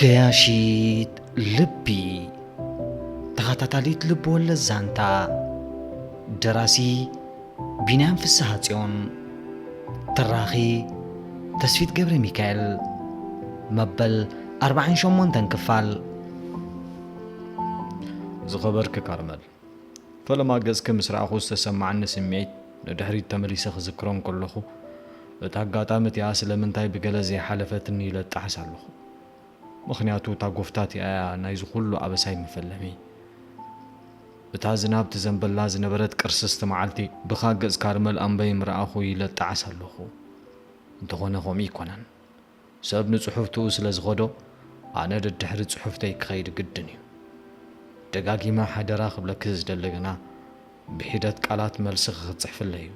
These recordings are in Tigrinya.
ገያሺት ልቢ ተኸታታሊት ልብ ወለድ ዛንታ ደራሲ ቢንያም ፍስሐ ጽዮን ተራኺ ተስፊት ገብረ ሚካኤል መበል 48 ክፋል ዝኸበርኪ ካርመል ፈለማ ገጽኪ ምስ ረኣኹ ዝተሰማዓኒ ስምዒት ንድሕሪት ተመሊሰ ክዝክሮ እንከለኹ፣ እታ ኣጋጣሚ እቲኣ ስለምንታይ ብገለ ዘይሓለፈትኒ ኢለ እጣሕስ ኣለኹ። ምኽንያቱ እታ ጎፍታ እቲኣ እያ ናይዚ ኩሉ ኣበሳይ መፈለሚ። እታ ዝናብ ትዘንበላ ዝነበረት ቅርስስቲ መዓልቲ ብኻ ገጽ ካርመል ኣምበይ ምረኣኹ ኢለ እጣዓስ ኣለኹ። እንተኾነ ከምኡ ኣይኮነን። ሰብ ንጽሑፍትኡ ስለ ዝኸዶ ኣነ ደድሕሪ ጽሑፍተይ ክኸይድ ግድን እዩ። ደጋጊመ ሓደራ ክብለኪ ዝደሊ ግና ብሒደት ቃላት መልስኺ ክትጽሕፍለይ እዩ።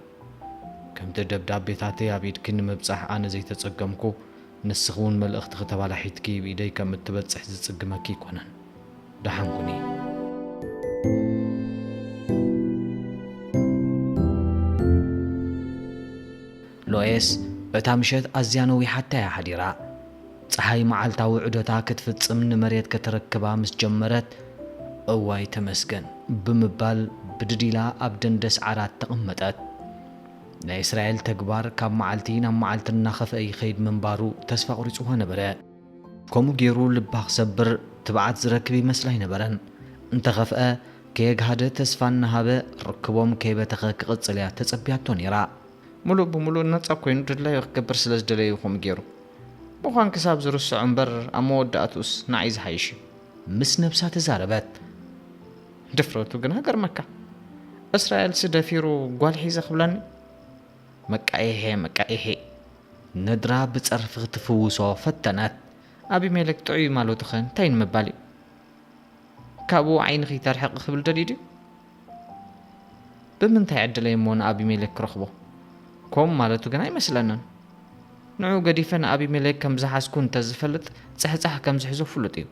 ከምቲ ደብዳቤታተይ ኣብ ኢድኪ ንምብጻሕ ኣነ ዘይተጸገምኩ ንስኺ እውን መልእኽትኺ ተባላሒትኪ ብ ኢደይ ከም እትበጽሕ ዝጽግመኪ ኣይኮነን። ደሓን ኩኒ። ሎየስ በታ ምሸት ኣዝያ ነዊሓታ'ያ ሓዲራ። ጸሓይ መዓልታዊ ዑደታ ክትፍጽም ንመሬት ከተረክባ ምስ ጀመረት፣ እዋይ ተመስገን! ብምባል ብድድ ኢላ ኣብ ደንደስ ዓራት ተቐመጠት። ናይ እስራኤል ተግባር ካብ መዓልቲ ናብ መዓልቲ እናኸፍኣ ይኸይድ ምንባሩ ተስፋ ኣቑሪጽዋ ነበረ። ከምኡ ገይሩ ልባ ክሰብር ትብዓት ዝረክብ ይመስላ ኣይነበረን። እንተኸፍኣ ከየግሃደ ተስፋ እናሃበ ርክቦም ከይበተኸ ክቕጽል'ያ ተጸብያቶ ነይራ። ምሉእ ብምሉእ ነጻ ኮይኑ ድላዩ ክገብር ስለ ዝደለየ እዩ ከምኡ ገይሩ ምዃን ክሳብ ዝርስዖ እምበር ኣብ መወዳእትኡስ ንዓይ ዝሓይሽ እዩ ምስ ነብሳ ተዛረበት። ድፍረቱ ግና ገርመካ እስራኤልሲ ደፊሩ ጓል ሒዘ ክብለኒ መቃይሔ መቃይሔ ነድራ ብጸርፊ ክትፍውሶ ፈተነት ኣቢሜሌክ ጥዑይ ማለቱኸ እንታይ ንምባል እዩ ካብኡ ዓይንኺ ተርሕቂ ክብል ደልዩ ድዩ ብምንታይ ዕድለይ እሞ ንኣቢሜሌክ ክረኽቦ? ኮም ማለቱ ግና ኣይመስለንን። ንዕኡ ገዲፈ ንኣቢሜሌክ ከም ዝሓዝኩ እንተ ዝፈልጥ ጽሕጻሕ ከም ዝሕዞ ፍሉጥ እዩ።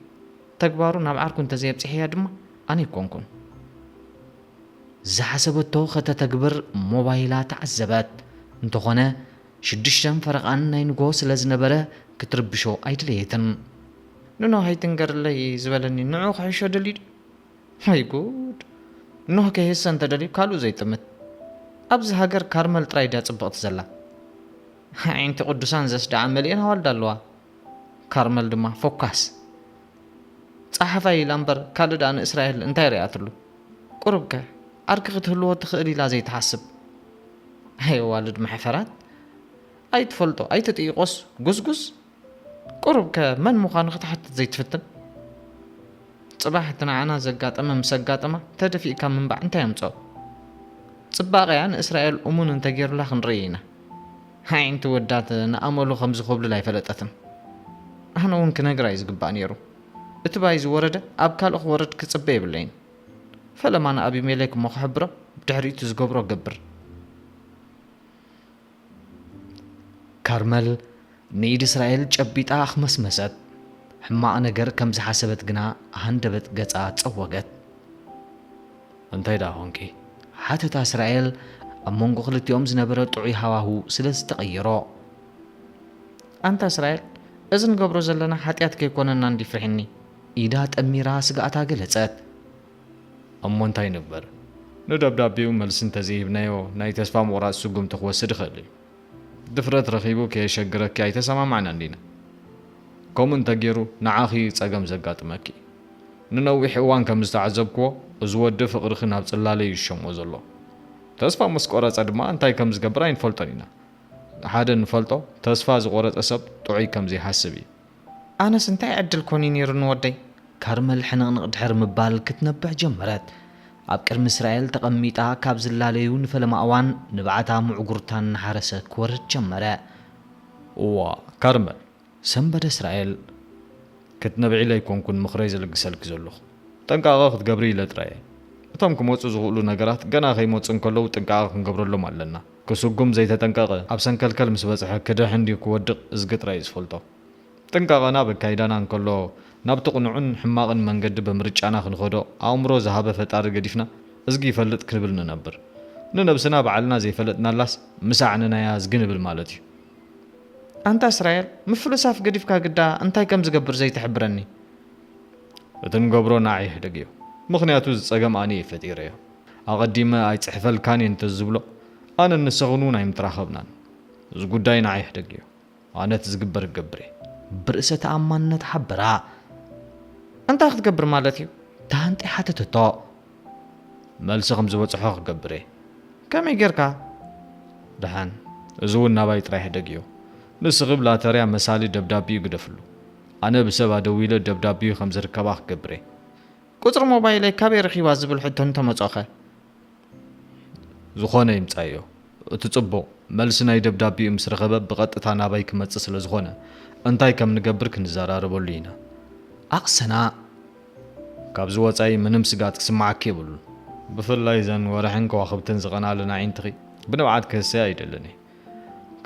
ተግባሩ ናብ ዓርኩ እንተ ዘየብጽሔያ ድማ ኣነ ኣይኮንኩን። ዝሓሰበቶ ከተተግብር ሞባይላ ተዓዘበት። እንተኾነ ሽዱሽተን ፈረቓን ናይ ንግሆ ስለ ዝነበረ ክትርብሾ ኣይደለየትን። ንኖህ ኣይትንገርለይ ዝበለኒ ንዕኡ ክሕሾ ደልዩ ድዩ? ወይ ጉድ ኖህ ከይህሰ እንተደልዩ ካልኡ ዘይጥምት ኣብዚ ሃገር ካርመል ጥራይ ድያ ጽብቕቲ ዘላ ኣዒንቲ ቅዱሳን ዘስድዓ መሊኤን ኣዋልድ ኣለዋ ካርመል ድማ ፎካስ ጸሓፋይ ኢላ እምበር ካልእ ድኣ ንእስራኤል እንታይ ርኣትሉ ቁሩብ ከ ዓርኪ ክትህልዎ ትኽእል ኢላ ዘይትሓስብ ኣየዋልድ መሕፈራት ኣይትፈልጦ ኣይትጥይቆስ ጉስጉስ ቁሩብከ መን ምዃኑ ክትሓትት ዘይትፍትን? ጽባሕ እቲ ንዓና ዘጋጠመ ምስ ኣጋጠማ ተደፊእካ ምንባዕ እንታይ ኣምጽኦ? ጽባቐ'ያ ንእስራኤል እሙን እንተጌሩላ ክንርእይ ኢና። ኣዒንቲ ወዳት ንኣመሉ ከም ዝኹብልል ኣይፈለጠትን። ኣነ'ውን ክነግራ'ዩ ዝግባእ ኔሩ። እቲ ባይ ዝወረደ ኣብ ካልእ ክወርድ ክጽበ የብለይን። ፈለማ ንኣቢሜሌክ እሞ ክሕብሮ ብድሕሪ'ቲ ዝገብሮ እገብር። ካርመል ንኢድ እስራኤል ጨቢጣ ኣኽመስመሰት። ሕማቕ ነገር ከም ዝሓሰበት ግና ሃንደበት ገጻ ጸወገት። እንታይ ደኣ ኰንኪ? ሓተታ እስራኤል ኣብ መንጎ ክልቲኦም ዝነበረ ጥዑይ ሃዋሁ ስለ ዝተቐየሮ። ኣንታ እስራኤል፣ እዚ ንገብሮ ዘለና ሓጢኣት ከይኰነና እንድዩ ፍሒኒ። ኢዳ ጠሚራ ስግኣታ ገለጸት። እሞ እንታይ ይንበር? ንደብዳቤኡ መልሲ እንተዘይሂብናዮ ናይ ተስፋ ምቑራጽ ስጉምቲ ክወስድ ይኽእል እዩ። ድፍረት ረኺቡ ከየሸግረኪ ኣይተሰማማዕናን ዲና? ከምኡ እንተገይሩ ንዓኺ እዩ ጸገም ዘጋጥመኪ። ንነዊሕ እዋን ከም ዝተዓዘብክዎ እዚ ወዲ ፍቕርኺ ናብ ጽላለ እዩ ዝሸሞ ዘሎ። ተስፋ ምስ ቆረጸ ድማ እንታይ ከም ዝገብር ኣይንፈልጦን ኢና። ሓደ እንፈልጦ ተስፋ ዝቖረጸ ሰብ ጥዑይ ከም ዘይሓስብ እዩ። ኣነስ እንታይ ዕድል ኮን እዩ ነይሩኒ ወደይ። ከርመል ሕንቕንቕ ድሕሪ ምባል ክትነብዕ ጀመረት። ኣብ ቅድሚ እስራኤል ተቐሚጣ ካብ ዝላለዩ ንፈለማ እዋን ንብዓታ ምዕጉርታ እናሓረሰ ክወርድ ጀመረ። እዋ ከርመል፣ ሰንበደ እስራኤል። ክትነብዒ ኢለ ኣይኮንኩን ምኽረይ ዝልግሰልኪ ዘለኹ። ጥንቃቐ ክትገብሪ ኢለ ጥራይ እየ። እቶም ክመጹ ዝኽእሉ ነገራት ገና ከይመጹ እንከለዉ ጥንቃቐ ክንገብረሎም ኣለና። ክስጉም ዘይተጠንቀቐ ኣብ ሰንከልከል ምስ በጽሐ ክድሕን ድዩ ክወድቕ እዝጊ ጥራይ እዩ ዝፈልጦ። ጥንቃቐና ኣብ ኣካይዳና እንከሎ ናብቲ ቅኑዕን ሕማቕን መንገዲ ብምርጫና ክንኸዶ ኣእምሮ ዝሃበ ፈጣሪ ገዲፍና እዝጊ ይፈልጥ ክንብል ንነብር። ንነብስና ባዕልና ዘይፈለጥናላስ ምስ ኣዕነናያ እዝጊ ንብል ማለት እዩ። ኣንታ እስራኤል ምፍልሳፍ ገዲፍካ ግዳ እንታይ ከም ዝገብር ዘይትሕብረኒ። እቲ ንገብሮ ንዓይ ሕደግ እዩ ምኽንያቱ እዚ ጸገም ኣነ እየ ፈጢረዮ። ኣቐዲመ ኣይጽሕፈልካን እየ እንተ ዝብሎ፣ ኣነን ንሰኽን እውን ኣይምተራኸብናን። እዚ ጉዳይ ንዓይ ሕደግ እዩ። ኣነ እቲ ዝግበር ክገብር እየ። ብርእሰ ተኣማንነት ሓበራ። እንታይ ክትገብር ማለት እዩ? ተሃንጢ ሓተተቶ። መልሲ ከም ዝበጽሖ ክገብር እየ። ከመይ ጌርካ? ደሓን፣ እዚ እውን ናባይ ጥራይ ሕደግ እዩ። ንስኺ ብ ላተርያ መሳሊ ደብዳቤኡ ግደፍሉ። ኣነ ብሰብ ኣደዊለ ደብዳቤኡ ከም ዝርከባ ክገብር እየ። ቁጽሪ ሞባይለይ ካበይ ረኺባ ዝብል ሕቶ እንተመጾኸ? ዝኾነ ይምጻዮ እቲ ጽቡቕ፣ መልሲ ናይ ደብዳቤኡ ምስ ረኸበ ብቐጥታ ናባይ ክመጽእ ስለ ዝኾነ፣ እንታይ ከም ንገብር ክንዘራረበሉ ኢና። ኣቕሰና። ካብዚ ወጻኢ ምንም ስግኣት ክስምዓኪ የብሉን። ብፍላይ እዘን ወርሕን ከዋኽብትን ዝቐንኣለን ኣዒንትኺ ብንብዓት ክህሰያ ኣይደልን እየ።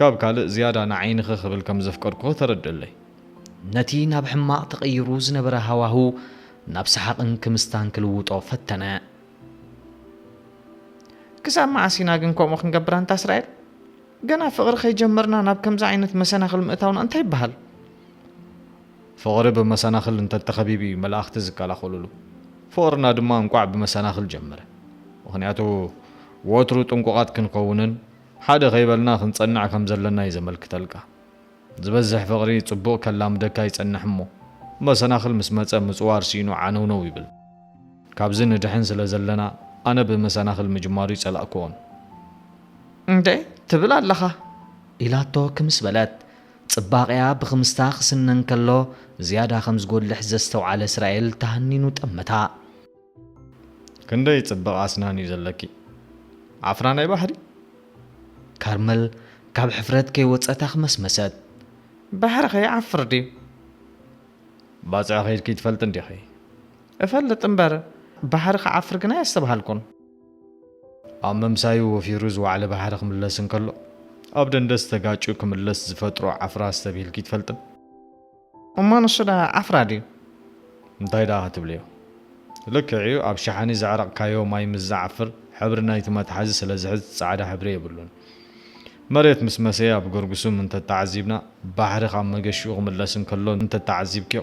ካብ ካልእ ዝያዳ ንዓይንኺ ክብል ከም ዘፍቀድኩኺ ተረድእለይ። ነቲ ናብ ሕማቕ ተቐይሩ ዝነበረ ሃዋሁ ናብ ሰሓቕን ክምስታን ክልውጦ ፈተነ። ክሳብ መዓስ ኢና ግን ከምኡ ክንገብር ኣንታ እስራኤል? ገና ፍቕሪ ከይጀመርና ናብ ከምዚ ዓይነት መሰናኽል ምእታውና እንታይ ይበሃል? ፍቕሪ ብመሰናኽል እንተ ተኸቢቡ እዩ መላእኽቲ ዝከላኸሉሉ። ፍቕርና ድማ እንቋዕ ብመሰናኽል ጀመረ። ምኽንያቱ ወትሩ ጥንቁቓት ክንኸውንን፣ ሓደ ከይበልና ክንጸንዕ ከም ዘለና እዩ ዘመልክተልካ። ዝበዝሕ ፍቕሪ ጽቡቕ ከላምደካ ይጸንሕ እሞ፣ መሰናኽል ምስ መጸ ምጽዋር ሲኢኑ ዓነውነው ይብል። ካብዚ ንድሕን ስለ ዘለና ኣነ ብመሰናኽል ምጅማሩ ኣይጸላእኩዎን። እንደ ትብል ኣለኻ? ኢላቶ ክምስ በለት። ጽባቐኣ ብኽምስታ ክስነ እንከሎ ዝያዳ ከም ዝጎልሕ ዘስተውዓለ እስራኤል ተሃኒኑ ጠመታ። ክንደይ ጽብቕ ኣስናን እዩ ዘለኪ ዓፍራ ናይ ባሕሪ። ካርመል ካብ ሕፍረት ከይወጸት ኣኽመስመሰት። ባሕሪኸ ይዓፍር ድዩ? ባጽዕ ኸይድኪ ትፈልጢ እንዲኺ? እፈልጥ እምበር፣ ባሕሪ ክዓፍር ግና ኣየስተብሃልኩን። ኣብ ምምሳዩ ወፊሩ ዝወዓለ ባሕሪ ክምለስ እንከሎ፣ ኣብ ደንደስ ተጋጭዩ ክምለስ ዝፈጥሮ ዓፍራ ኣስተብሂልኪ ኣይትፈልጥን? እሞ ንሱ ደኣ ዓፍራ ድዩ? እንታይ ደኣ ክትብልዮ ልክዕ እዩ ኣብ ሸሓኒ ዘዕረቕካዮ ማይ ምስ ዝዓፍር ሕብሪ ናይቲ መትሓዚ ስለ ዝሕዝ ጻዕዳ ሕብሪ የብሉን። መሬት ምስ መሰየ ኣብ ገርግሱም እንተ ተዓዚብና ባሕሪ ካብ መገሽኡ ክምለስ እንከሎ እንተ ተዓዚብክዮ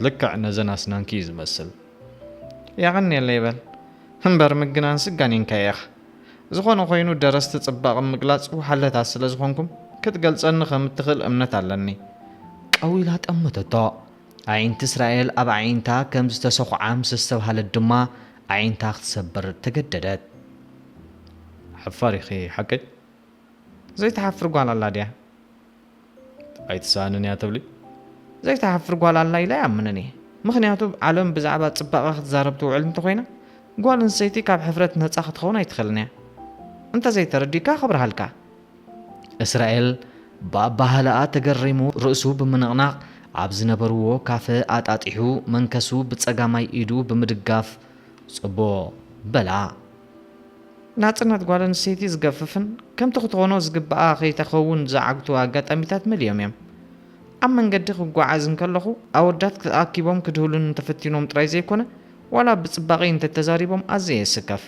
ልክዕ ነዘን ኣስናንኪ እዩ ዝመስል። የቐኔለይ በል እምበር ምግናንሲ ጋኒንካዮ ኢኻ። ዝኾነ ኾይኑ ደረስቲ ጽባቐ ምግላጽ ወሓለታት ስለ ዝኾንኩም ክትገልጸኒ ከም እትኽእል እምነት ኣለኒ። ቀው ኢላ ጠመተቶ። ኣዒንቲ እስራኤል ኣብ ኣዒንታ ከም ዝተሰዂዓ ምስ ኣስተብሃለት ድማ ኣዒንታ ክትሰብር ተገደደት። ሓፋር ኢኺ ሓቀይ? ዘይትሓፍር ጓል ኣላ ድያ? ኣይትሰኣንን እያ ትብሊ? ዘይትሓፍር ጓል ኣላ ኢለ ኣይኣምንን እየ። ምኽንያቱ ዓለም ብዛዕባ ጽባቐ ክትዛረብ ትውዕል እንተኾይና፣ ጓል ኣንስተይቲ ካብ ሕፍረት ነጻ ክትኸውን ኣይትኽእልን እያ። እንተዘይተረዲእካ ከብርሃልካ። እስራኤል ብኣበሃህላኣ ተገሪሙ ርእሱ ብምንቕናቕ ኣብ ዝነበርዎ ካፈ ኣጣጢሑ መንከሱ ብጸጋማይ ኢዱ ብምድጋፍ ጽቡቕ! በላ። ናጽነት ጓል ኣንስተይቲ ዝገፍፍን ከምቲ ክትኾኖ ዝግብኣ ከይተከውን ዝዓግቱ ኣጋጣሚታት መሊኦም እዮም። ኣብ መንገዲ ክጓዓዝ እንከለኹ ኣወዳት ተኣኪቦም ክድህሉኒ እንተፈቲኖም ጥራይ ዘይኮነ ዋላ ብጽባቂ እንተተዛሪቦም ኣዝየ የስከፍ።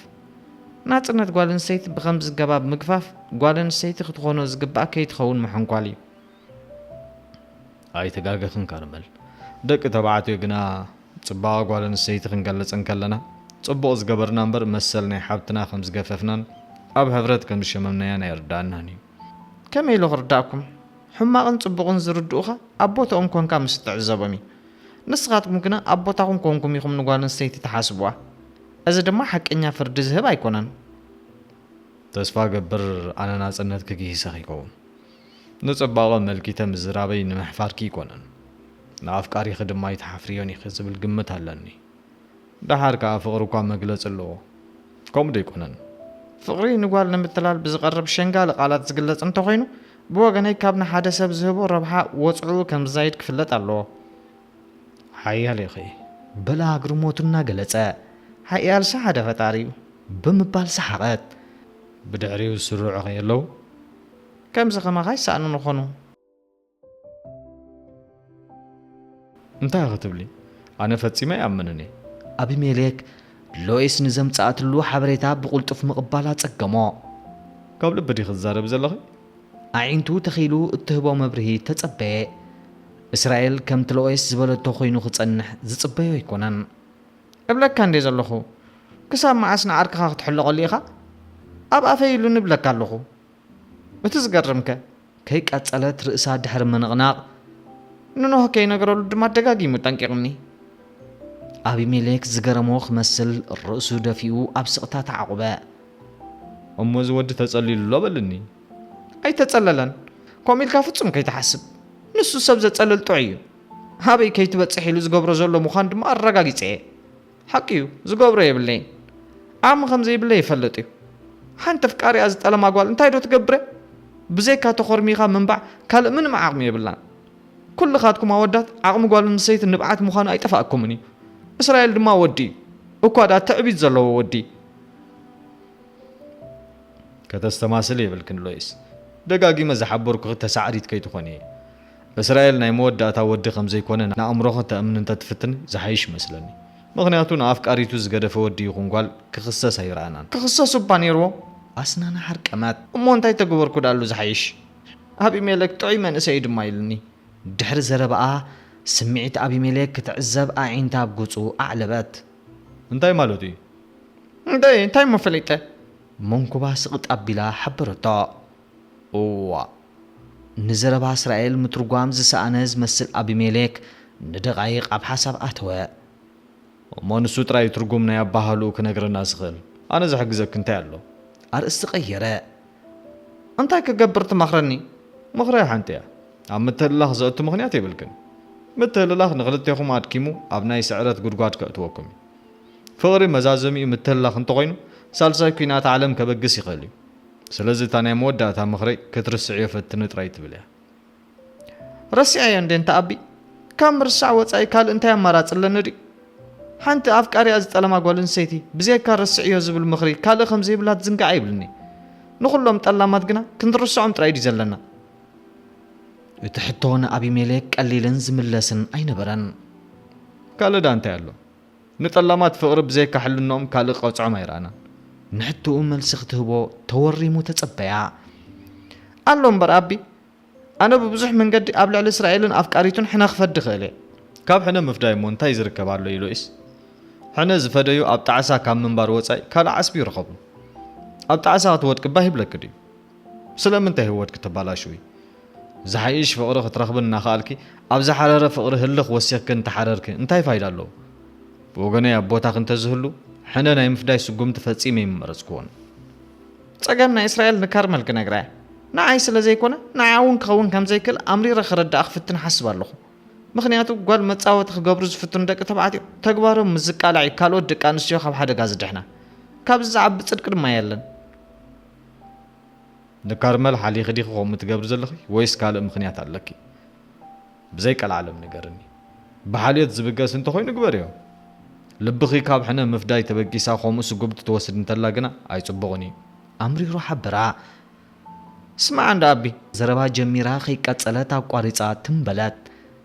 ናጽነት ጓል ኣንስተይቲ ብከምዚ ገባብ ምግፋፍ ጓል ኣንስተይቲ ክትኾኖ ዝግብኣ ከይትኸውን ምሕንኳል እዩ። ኣይተጋገኽን ካርመል ደቂ ተባዕትዮ ግና ጽባቐ ጓል ኣንስተይቲ ክንገልጽ እንከለና፣ ጽቡቕ ዝገበርና እምበር መሰል ናይ ሓብትና ከም ዝገፈፍናን ኣብ ሕብረት ከም ዝሸመምናያን ኣየርድኣናን እዩ። ከመይ ኢሉ ክርድኣኩም? ሕማቕን ጽቡቕን ዝርድኡኻ ኣብ ቦትኦም ኰንካ ምስ እትዕዘቦም እዩ። ንስኻትኩም ግና ኣብ ቦታኹም ኰንኩም ኢኹም ንጓል ኣንስተይቲ ትሓስቡዋ። እዚ ድማ ሓቀኛ ፍርዲ ዝህብ ኣይኰነን። ተስፋ እገብር ኣነ ናጽነት ክግሂሰ ክይከውን። ንጽባቐ ኣመልኪተ ምዝራበይ ንምሕፋርኪ ኣይኮነን፣ ንኣፍቃሪኺ ድማ ኣይትሓፍርዮን ኢኺ ዝብል ግምት ኣለኒ። ደሓር ከኣ ፍቕሪ እኳ መግለጺ ኣለዎ፣ ከምኡ ዶ ኣይኮነን? ፍቕሪ ንጓል ንምትላል ብዝቐርብ ሸንጋሊ ቃላት ዝግለጽ እንተኾይኑ፣ ብወገነይ ካብ ንሓደ ሰብ ዝህቦ ረብሓ ወጽዕኡ ከም ዝዛይድ ክፍለጥ ኣለዎ። ሓያል ኢኺ፣ በለ ኣግርሞቱ እናገለጸ። ሓያልሲ ሓደ ፈጣሪ'ዩ፣ ብምባል ሰሓቐት። ብድሕሪኡ ዝስርዑ ከየለዉ? ከምዚ ከማኻ ይሰኣኑ ንኾኑ። እንታይ ኢኺ ትብሊ ኣነ ፈጺመ ኣይኣምንን እየ። ኣቢሜሌክ፣ ሎይስ ንዘምጽኣትሉ ሓበሬታ ብቕልጡፍ ምቕባል ኣጸገሞ። ካብ ልቢ ዲኺ ትዛረቢ ዘለኺ? ኣዒንቱ ተኺሉ እትህቦ መብርሂ ተጸበየ። እስራኤል ከምቲ ሎይስ ዝበለቶ ኰይኑ ክጸንሕ ዝጽበዮ ኣይኰነን። እብለካ እንድየ ዘለኹ። ክሳብ መዓስ ንዓርክኻ ክትሕለቐሉ ኢኻ? ኣብ ኣፈይ ኢሉኒ እብለካ ኣለኹ። እቲ ዝገርምከ ከይቀጸለት ርእሳ ድሕሪ ምንቕናቕ ንኖህ ከይነገረሉ ድማ ደጋጊሙ ጠንቂቕኒ። ኣቢሜሌክ ዝገረሞ ክመስል ርእሱ ደፊኡ ኣብ ስቕታ ተዓቝበ። እሞ እዚ ወዲ ተጸሊሉ ኣሎ በልኒ። ኣይተጸለለን። ከምኡ ኢልካ ፍጹም ከይትሓስብ። ንሱ ሰብ ዘጸልል ጥዑይ እዩ። ኣበይ ከይትበጽሕ ኢሉ ዝገብሮ ዘሎ ምዃን ድማ ኣረጋጊጸ እየ። ሓቂ እዩ ዝገብሮ የብለይን ዓቅሚ ከምዘይብለይ ይፈልጥ እዩ ሓንቲ ኣፍቃሪኣ ዝጠለማ ጓል እንታይ ዶ ትገብረ ብዘይካ ተኾርሚኻ ምንባዕ ካልእ ምንም ዓቅሚ የብላን ኩልኻትኩም ኣወዳት ዓቅሚ ጓል ኣንሰይቲ ንብዓት ምዃኑ ኣይጠፋኣኩምን እዩ እስራኤል ድማ ወዲ እዩ እኳ ድኣ ትዕቢት ዘለዎ ወዲ ከተስተማስሊ የብልክን ሎይስ ደጋጊመ ዝሓበርኩኺ ተሳዕሪት ከይትኾኒ እየ እስራኤል ናይ መወዳእታ ወዲ ከምዘይኮነ ንኣእምሮ ከተእምን እንተትፍትን ዝሓይሽ ይመስለኒ ምኽንያቱ ንኣፍቃሪቱ ዝገደፈ ወዲ ይኹን ጓል ክኽሰስ ኣይረኣናን። ክኽሰስ እባ ኔርዎ ኣስናን ሃርቀማት። እሞ እንታይ ተገበርኩ ድኣሉ ዝሓይሽ ኣቢሜለክ ጥዑይ መንእሰይ እዩ ድማ ኢሉኒ። ድሕሪ ዘረባኣ ስምዒት ኣቢሜሌክ ክትዕዘብ ኣዒንታ ኣብ ገጹ ኣዕለበት። እንታይ ማለቱ እዩ? እንታይ እንታይ እሞ ፈሊጠ? መንኩባ ስቕጥ ኣቢላ ሓበረቶ። እዋእ! ንዘረባ እስራኤል ምትርጓም ዝሰኣነ ዝመስል ኣቢሜሌክ ንደቓይቕ ኣብ ሓሳብ ኣተወ። እሞ ንሱ ጥራይ እዩ ትርጉም ናይ ኣበሃህልኡ ክነግረና ዝኽእል። ኣነ ዝሕግዘኪ እንታይ ኣሎ? ኣርእስቲ ቀየረ። እንታይ ክገብር ትመኽረኒ? ምኽረይ ሓንቲ እያ። ኣብ ምትህልላኽ ዘእቱ ምኽንያት የብልክን። ምትህልላኽ ንኽልቴኹም ኣድኪሙ ኣብ ናይ ስዕረት ጉድጓድ ከእትወኩም እዩ። ፍቕሪ መዛዘሚኡ ምትህልላኽ እንተኾይኑ ሳልሳይ ኲናት ዓለም ከበግስ ይኽእል እዩ። ስለዚ እታ ናይ መወዳእታ ምኽረይ ክትርስዕዮ ፈትኒ ጥራይ ትብል እያ። ረሲዐዮ እንድየ እንተ ኣቢ ካብ ምርሳዕ ወጻኢ ካልእ እንታይ ኣማራጺ ኣለኒ ድዩ? ሓንቲ ኣፍቃሪኣ ዝጠለማ ጓል ኣንስተይቲ ብዘየካ ረስዕዮ ዝብል ምኽሪ ካልእ ከም ዘይብላ ትዝንግዓ ይብልኒ። ንኹሎም ጠላማት ግና ክንርስዖም ጥራይ ድዩ ዘለና? እቲ ሕቶ ንኣቢሜሌክ ቀሊልን ዝምለስን ኣይነበረን። ካልእ ደኣ እንታይ ኣሎ? ንጠላማት ፍቕሪ ብዘይካ ሕልንኦም ካልእ ክቐጽዖም ኣይረኣናን። ንሕቶኡ መልሲ ክትህቦ ተወሪሙ ተጸበያ። ኣሎ እምበር ኣቢ፣ ኣነ ብብዙሕ መንገዲ ኣብ ልዕሊ እስራኤልን ኣፍቃሪቱን ሕነ ክፈዲ እኽእል እየ። ካብ ሕነ ምፍዳይ እሞ እንታይ ዝርከብ ኣሎ ኢሎይስ፣ ሕነ ዝፈደዩ ኣብ ጣዕሳ ካብ ምንባር ወጻኢ ካልእ ዓስቢ ይረኸቡ? ኣብ ጣዕሳ ክትወድቂ ባህ ይብለኪ ድዩ? ስለምንታይ ህይወትኪ ተባላሽዊ? ዝሓይሽ ፍቕሪ ክትረኽቢ እናኸኣልኪ፣ ኣብ ዝሓረረ ፍቕሪ ህልኽ ወሲኽኪ እንተሓረርኪ እንታይ ፋይዳ ኣለዎ? ብወገነይ ኣብ ቦታኺ እንተዝህሉ፣ ሕነ ናይ ምፍዳይ ስጉምቲ ፈጺመ ኣይምመረጽክዎን። ጸገም ናይ እስራኤል ንከርመል ክነግራ እየ። ንዓይ ስለ ዘይኮነ፣ ንዓኣ እውን ክኸውን ከም ዘይክእል ኣምሪረ ክረድኣ ክፍትን እሓስብ ኣለኹ። ምኽንያቱ ጓል መጻወቲ ክገብሩ ዝፍትኑ ደቂ ተባዕትዮ፣ ተግባሮም ምስ ዝቃላዕ እዩ ካልኦት ደቂ ኣንስትዮ ካብ ሓደጋ ዝድሕና። ካብዚ ዝዓቢ ጽድቂ ድማ የለን። ንካርመል ሓሊኺ ዲኺ ከምኡ ትገብሪ ዘለኺ ወይስ ካልእ ምኽንያት ኣለኪ? ብዘይ ቀልዓለም ንገርኒ። ብሓልዮት ዝብገስ እንተኾይኑ ግበርዮ። ልብኺ ካብ ሕነ ምፍዳይ ተበጊሳ ከምኡ ስጉምቲ ትወስድ እንተላ ግና ኣይጽቡቕን እዩ። ኣምሪሩ ሓበራ። ስማዕ እንዳ ኣቢ። ዘረባ ጀሚራ ከይቀጸለት ኣቋሪጻ ትም በለት።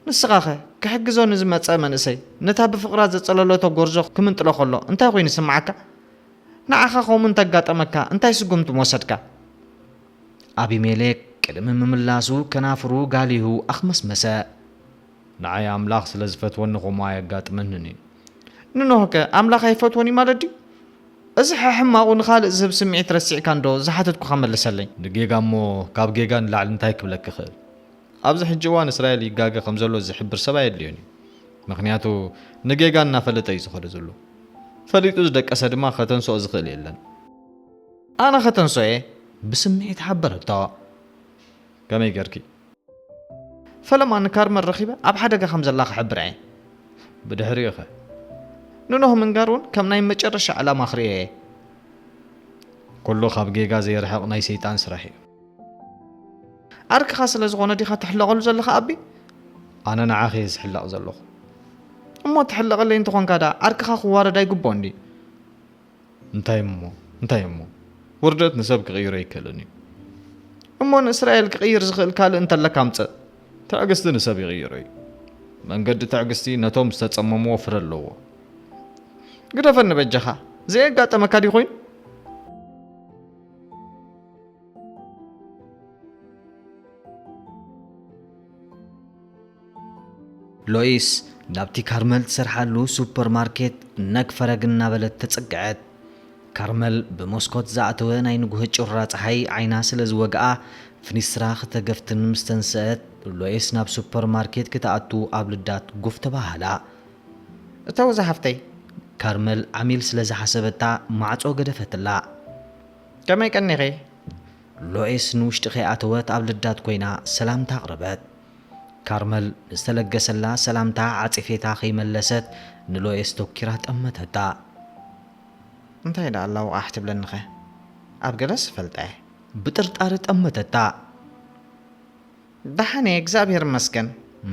ንስኻኸ? ክሕግዞ ንዝመጸ መንእሰይ ነታ ብፍቕራ ዘጸለለቶ ጎርዞ ክምንጥሎ ከሎ እንታይ ኮይኑ ይስምዓካ? ንዓኻ ኸምኡ እንተ ኣጋጠመካ እንታይ ስጕምቲ ምወሰድካ? ኣቢሜሌክ ቅድሚ ምምላሱ ከናፍሩ ጋሊሁ ኣኽመስመሰ። ንዓይ ኣምላኽ ስለ ዚፈትወኒ ኸምኡ ኣየጋጥመንን እዩ። ንኖህከ ኣምላኽ ኣይፈትዎን እዩ ማለት ድዩ? እዚ ሕሕማቑ ንኻልእ ዝህብ ስምዒት ረሲዕካ እንዶ ዝሓተትኩኻ መልሰለይ? ንጌጋ እሞ ካብ ጌጋ ንላዕሊ እንታይ ክብለኪ እኽእል? ኣብዚ ሕጂ እዋን እስራኤል ይጋገ ከምዘሎ ዝሕብር ሰብ ኣየድልዮን እዩ ምክንያቱ ንጌጋ እናፈለጠ እዩ ዝኸዶ ዘሎ ፈሊጡ ዝደቀሰ ድማ ከተንስኦ ዝኽእል የለን። ኣነ ከተንሶ እየ ብስምዒት ሓበረቶ ከመይ ገርኪ? ፈለማ ንካርመን ረኺበ ኣብ ሓደጋ ከም ዘላ ክሕብራ እየ። ብድሕሪኡ ከ ንኖህ ምንጋር እውን ከም ናይ መጨረሻ ዕላማ ክርእዮ እየ። ኩሉ ካብ ጌጋ ዘይርሕቕ ናይ ሰይጣን ስራሕ እዩ። ዓርክኻ ስለ ዝኾነ ዲኻ ትሕለቐሉ ዘለኻ ኣቢ? ኣነ ንዓኺ እየ ዝሕለቕ ዘለኹ። እሞ ትሕለቐለይ እንተኾንካ ደኣ ዓርክኻ ክዋረድ ኣይግብኦን ድዩ? እንታይ እሞ እንታይ እሞ ውርደት ንሰብ ክቕይሮ ኣይከልን እዩ። እሞ ንእስራኤል ክቕይር ዝኽእል ካልእ እንተለካ ምጽእ። ትዕግስቲ ንሰብ ይቕይሮ እዩ። መንገዲ ትዕግስቲ ነቶም ዝተጸመምዎ ፍረ ኣለዎ። ግደፈኒ በጃኻ ዘየጋጠመካ ድዩ ኮይኑ ሎይስ ናብቲ ካርመል ትሰርሓሉ ሱፐር ማርኬት ነግ ፈረግ እናበለት ተጸግዐት። ካርመል ብመስኮት ዝኣተወ ናይ ንጉሆ ጩራ ጸሓይ ዓይና ስለ ዝወግኣ ፍኒስትራ ክተገፍትን ምስ ተንስአት ሎይስ ናብ ሱፐር ማርኬት ክትኣቱ ኣብ ልዳት ጉፍ ተባህላ። እተው ዝሓፍተይ! ካርመል ዓሚል ስለ ዝሓሰበታ ማዕጾ ገደፈትላ። ከመይ ቀኒኺ? ሎይስ ንውሽጢ ከይኣተወት ኣብ ልዳት ኮይና ሰላምታ ኣቕረበት። ካርመል ንዝተለገሰላ ሰላምታ ዓጺፌታ ከይመለሰት ንሎይስ ቶኪራ ጠመተታ። እንታይ ደኣ ኣላውቓሕ ትብለኒኸ? ኣብ ገለስ እፈልጣ'የ። ብጥርጣረ ጠመተታ። ዳሓንየ እግዚኣብሔር ይመስገን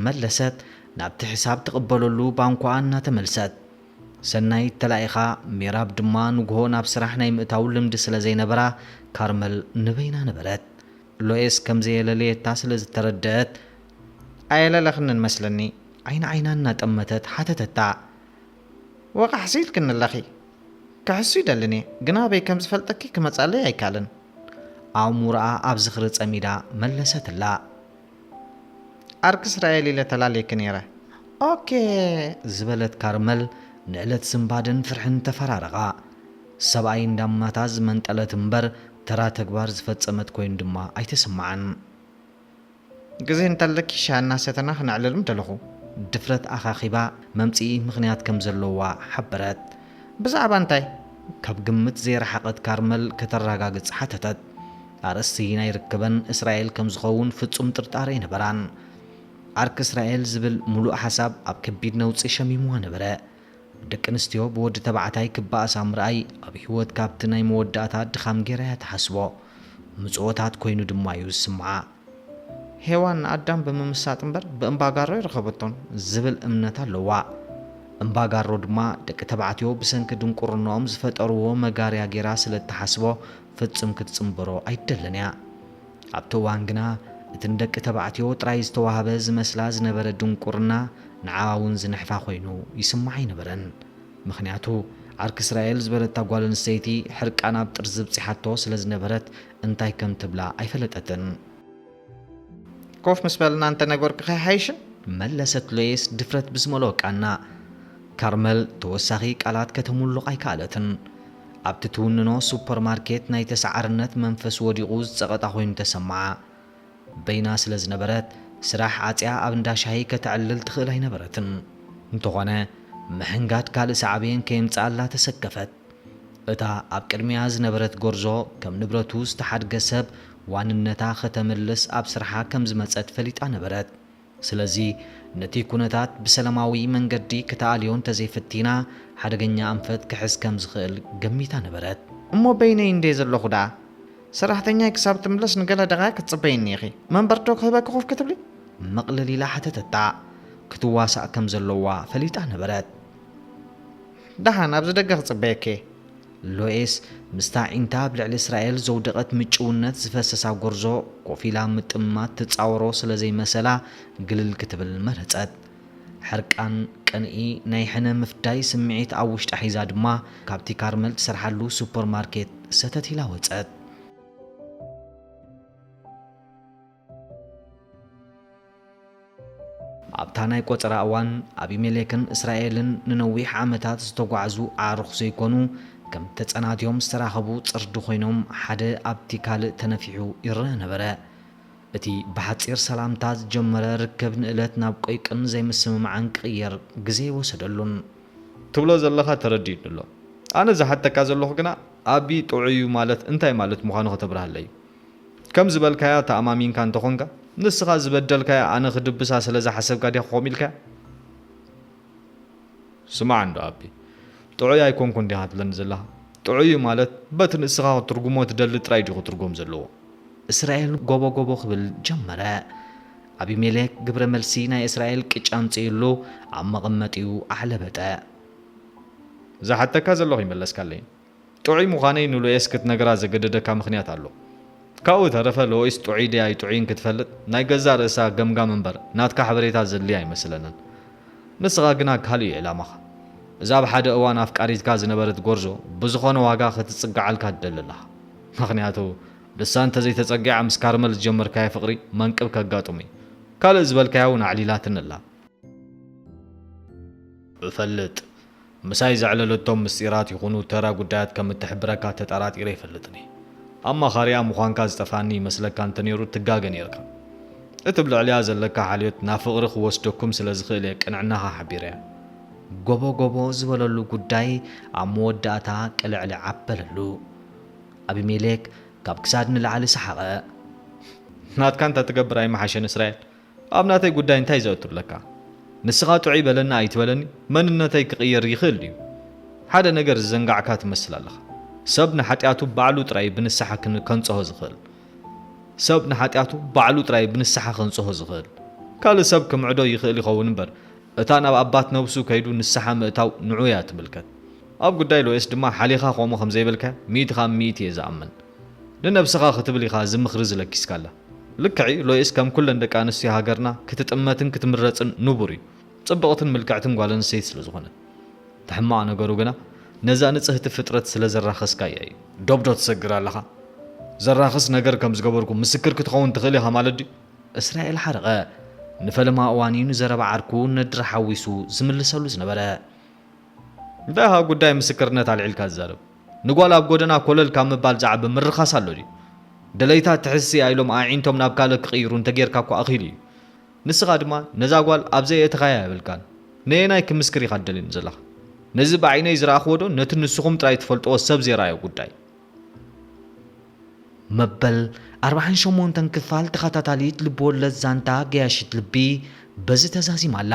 መለሰት ናብቲ ሕሳብ ትቅበለሉ ባንኮኣ እናተመልሰት። ሰናይት ተላኢኻ ሜራብ ድማ ንጉሆ ናብ ስራሕ ናይ ምእታው ልምዲ ስለ ዘይነበራ ካርመል ንበይና ነበረት። ሎኤስ ከም ዘየለለየታ ስለ ዝተረደኣት። ኣየለለኽንን መስለኒ ዓይኒ ዓይና እናጠመተት ሓተተታ። ወቓሕሲ ኢልክኒ ኣለኺ ክሕሱ ይደልን'የ ግን ኣበይ ከም ዝፈልጠኪ ክመጽኣለይ ኣይካልን። ኣእምሮኣ ኣብ ዝኽሪ ጸሚዳ መለሰትላ። ኣርክ እስራኤል ኢለ ተላልየኪ ነይረ። ኦኬ ዝበለት ካርመል ንእለት ስንባደን ፍርሕን ተፈራረቓ። ሰብኣይ እንዳማታ ዝመንጠለት እምበር ተራ ተግባር ዝፈጸመት ኮይኑ ድማ ኣይተሰመዓን። ግዜ እንተለኪ ሻሂ እናሰተና ክነዕልል ምደለኹ። ድፍረት ኣኻኺባ መምጽኢ ምኽንያት ከም ዘለዋ ሓበረት። ብዛዕባ እንታይ? ካብ ግምት ዘይረሓቐት ካርመል ከተራጋግጽ ሓተተት። ኣርእስቲ ናይ ርክበን እስራኤል ከም ዝኸውን ፍጹም ጥርጣረ ኣይነበራን። ዓርኪ እስራኤል ዝብል ምሉእ ሓሳብ ኣብ ከቢድ ነውጺ ሸሚሙዋ ነበረ። ደቂ ኣንስትዮ ብወዲ ተባዕታይ ክበኣሳ ምርኣይ ኣብ ህይወት ካብቲ ናይ መወዳእታ ድኻም ገይራ እያ ትሓስቦ። ምጽኦታት ኮይኑ ድማ እዩ ዝስምዓ። ሄዋን ንኣዳም ብምምሳጥ እምበር ብእምባጋሮ ኣይረኸበቶን ዝብል እምነት ኣለዋ። እምባጋሮ ድማ ደቂ ተባዕትዮ ብሰንኪ ድንቁርንኦም ዝፈጠርዎ መጋርያ ገይራ ስለ እትሓስቦ ፈጽም ክትጽንበሮ ኣይትደልን እያ። ኣብቲ እዋን ግና እቲ ንደቂ ተባዕትዮ ጥራይ ዝተዋህበ ዝመስላ ዝነበረ ድንቁርና ንዓኣ እውን ዝንሕፋ ኮይኑ ይስምዓ ኣይነበረን። ምኽንያቱ ዓርኪ እስራኤል ዝበለታ ጓል ኣንስተይቲ ሕርቃና ኣብ ጥርዚ ኣብጺሓቶ ስለ ዝነበረት እንታይ ከም ትብላ ኣይፈለጠትን። ኮፍ ምስ በልና እንተ ነገርኩኺ ኣይሓይሽን? መለሰት ሎይስ ድፍረት ብዝመልኦ ቃና። ካርመል ተወሳኺ ቃላት ከተምሉቕ ኣይከኣለትን። ኣብቲ ትውንኖ ሱፐር ማርኬት ናይ ተሰዓርነት መንፈስ ወዲቑ ዝጸቐጣ ኮይኑ ተሰምዓ። በይና ስለ ዝነበረት፣ ስራሕ ዓጽያ ኣብ እንዳ ሻሂ ከተዕልል ትኽእል ኣይነበረትን። እንተኾነ ምሕንጋድ ካልእ ሳዕቤን ከየምጽኣላ ተሰከፈት። እታ ኣብ ቅድሚኣ ዝነበረት ጎርዞ ከም ንብረቱ ዝተሓድገ ሰብ ዋንነታ ከተምልስ ኣብ ስርሓ ከም ዝመጸት ፈሊጣ ነበረት። ስለዚ ነቲ ኩነታት ብሰለማዊ መንገዲ ክተኣልዮ እንተዘይፍቲና ሓደገኛ ኣንፈት ክሕዝ ከም ዝኽእል ገሚታ ነበረት። እሞ በይነይ እንድየ ዘለኹ ደኣ ሰራሕተኛይ ክሳብ ትምለስ ንገለ ደቓይቕ ክትጽበይኒ ኢኺ፣ መንበርዶ ክህበኪ ኮፍ ክትብሊ? ምቕልል ኢላ ሓተተታ። ክትዋሳእ ከም ዘለዋ ፈሊጣ ነበረት። ደሓን ኣብዚ ደገ ክጽበየኪ'የ። ሎይስ ምስታ ኣዒንታ ኣብ ልዕሊ እስራኤል ዘውደቐት ምጭውነት ዝፈሰሳ ጎርዞ ኮፍ ኢላ ምጥማት ትጻወሮ ስለ ዘይመሰላ ግልል ክትብል መረጸት። ሕርቃን፣ ቅንኢ፣ ናይ ሕነ ምፍዳይ ስምዒት ኣብ ውሽጣ ሒዛ ድማ ካብቲ ካርመል ትሰርሓሉ ሱፐርማርኬት ሰተት ኢላ ወጸት። ኣብታ ናይ ቈጸራ እዋን፣ ኣቢሜሌክን እስራኤልን ንነዊሕ ዓመታት ዝተጓዕዙ ኣዕሩኽ ዘይኰኑ፣ ከም ተጸናትዮም ዝተራኸቡ ጽርዲ ዀይኖም ሓደ ኣብቲ ካልእ ተነፊሑ ይረኣ ነበረ። እቲ ብሓጺር ሰላምታ ዝጀመረ ርክብ ንእለት ናብ ቈይቅን ዘይምስምማዕን ክቕየር ግዜ ኣይወሰደሉን። ትብሎ ዘለኻ ተረዲኡኒ ኣሎ። ኣነ ዝሓተካ ዘለኹ ግና፣ ኣቢ ጥዑይ እዩ ማለት እንታይ ማለት ምዃኑ ከተብርሃለይ እዩ። ከም ዝበልካያ ተኣማሚንካ እንተኾንካ ንስኻ ዝበደልካያ ኣነ ክድብሳ ስለ ዝሓሰብካ ዲኻ ከምኡ ኢልካያ? ስማዕ እንዶ ኣቢ ጥዑይ ኣይኮንኩን ዲኻ ትብለኒ ዘለኻ? ጥዑይ ማለት በቲ ንስኻ ክትርጉሞ ትደሊ ጥራይ ድዩ ክትርጎም ዘለዎ? እስራኤል ጎቦ ጎቦ ክብል ጀመረ። ኣቢሜሌክ ግብረ መልሲ ናይ እስራኤል ቅጫ ኣምጺኡሉ ኣብ መቐመጢኡ ኣሕለበጠ። ዝሓተካ ዘለኹ ይመለስካለይ። ጥዑይ ምዃነይ ንሉኤስ ክትነግራ ዘገደደካ ምኽንያት ኣሎ። ካብኡ ዝተረፈ ሎይስ ጥዑይ ድያ ኣይጥዑይን ክትፈልጥ ናይ ገዛእ ርእሳ ገምጋም እምበር ናትካ ሓበሬታ ዘድልያ ኣይመስለንን። ንስኻ ግና ካልእ'ዩ ዕላማኻ። እዛ ኣብ ሓደ እዋን ኣፍቃሪትካ ዝነበረት ጎርዞ ብዝኾነ ዋጋ ክትጽግዓልካ ትደሊ ኣለኻ። ምኽንያቱ ንሳ እንተዘይተጸጊዓ ምስ ካርመል ዝጀመርካዮ ፍቕሪ መንቅብ ከጋጥም'ዩ። ካልእ ዝበልካዮ'ውን ኣዕሊላትኒ ኣላ። እፈልጥ። ምሳይ ዘዕለለቶም ምስጢራት ይኹኑ ተራ ጉዳያት ከም እትሕብረካ ተጠራጢረ ኣይፈልጥን'የ። ኣማኻሪኣ ምዃንካ ዝጠፍኣኒ ይመስለካ እንተነይሩ ትጋገ ነይርካ። እቲ ብ ልዕሊኣ ዘለካ ሓልዮት ናብ ፍቕሪ ክወስደኩም ስለ ዝኽእል'የ ቅንዕናኻ ሓቢረያ። ጎቦ ጎቦ ዝበለሉ ጉዳይ ኣብ መወዳእታ ቅልዕልዕ ኣበለሉ። ኣቢሜሌክ ካብ ክሳድ ንላዕሊ ሰሓቐ። ናትካ እንተትገብር ኣይምሓሸን እስራኤል? ኣብ ናተይ ጉዳይ እንታይ ዘእቱ ኣለካ ንስካ ጥዑይ በለኒ ኣይትበለኒ መንነተይ ክቅየር ይክእል ድዩ ሓደ ነገር ዝዘንጋዕካ ትመስል ኣለካ ሰብ ንሓጥያቱ ባዕሉ ጥራይ ብንስሓ ከንጽሆ ዝክእል ሰብ ንሓጥያቱ ባዕሉ ጥራይ ብንስሓ ከንጽሆ ዝክእል ካልእ ሰብ ክምዕዶ ይክእል ይከውን እምበር እታ ናብ ኣባት ነብሱ ከይዱ ንስሓ ምእታው ንዑ እያ ትምልከት ኣብ ጉዳይ ሎኤስ ድማ ሓሊካ ከምኡ ከምዘይበልካያ ሚእቲ ካብ ሚእቲ እየ ዝኣምን ንነብስካ ክትብል ኢካ እዚ ምክሪ እዚ ለኪስካላ። ልክዕ እዩ ሎይስ ከም ኩለን ደቂ ኣንስትዮ ሃገርና ክትጥመትን ክትምረጽን ንቡር እዩ ጽብቕትን ምልክዕትን ጓል ኣንስተይቲ ስለ ዝኾነት እቲ ሕማቕ ነገሩ ግና ነዛ ንጽህቲ ፍጥረት ስለ ዘራኸስካያ እዩ። ዶብ ዶ ትሰግር ኣለኻ? ዘራኽስ ነገር ከም ዝገበርኩ ምስክር ክትኸውን ትኽእል ኢኻ ማለት ድዩ? እስራኤል ሓርቐ ንፈለማ እዋን እዩ ንዘረባ ዓርኩ ነድሪ ሓዊሱ ዝምልሰሉ ዝነበረ። እንታይ ኢኻ ጉዳይ ምስክርነት ኣልዒልካ ትዛረብ? ንጓል ኣብ ጎደና ኮለል ካብ ምባል ዝዓቢ ምርኻስ ኣሎ ድዩ? ደለይታ ትሕዝሲ እያ ኢሎም ኣዒንቶም ናብ ካልእ ክቕይሩ እንተጌርካ እኳ ኣኺሉ እዩ። ንስኻ ድማ ነዛ ጓል ኣብ ዘየእተኻያ የብልካን። ነየናይ ክምስክር ኢኻ ትደልኒ ዘለኻ? ነዚ ብዓይነይ ዝረኣኽዎዶ ነቲ ንስኹም ጥራይ ትፈልጥዎ ሰብ ዘይረኣዮ ጉዳይ? መበል ኣርብዓን ሸሞንተን ክፋል ተኸታታሊት ልብወለድ ዛንታ ገያሺት ልቢ በዚ ተዛዚማ ኣላ።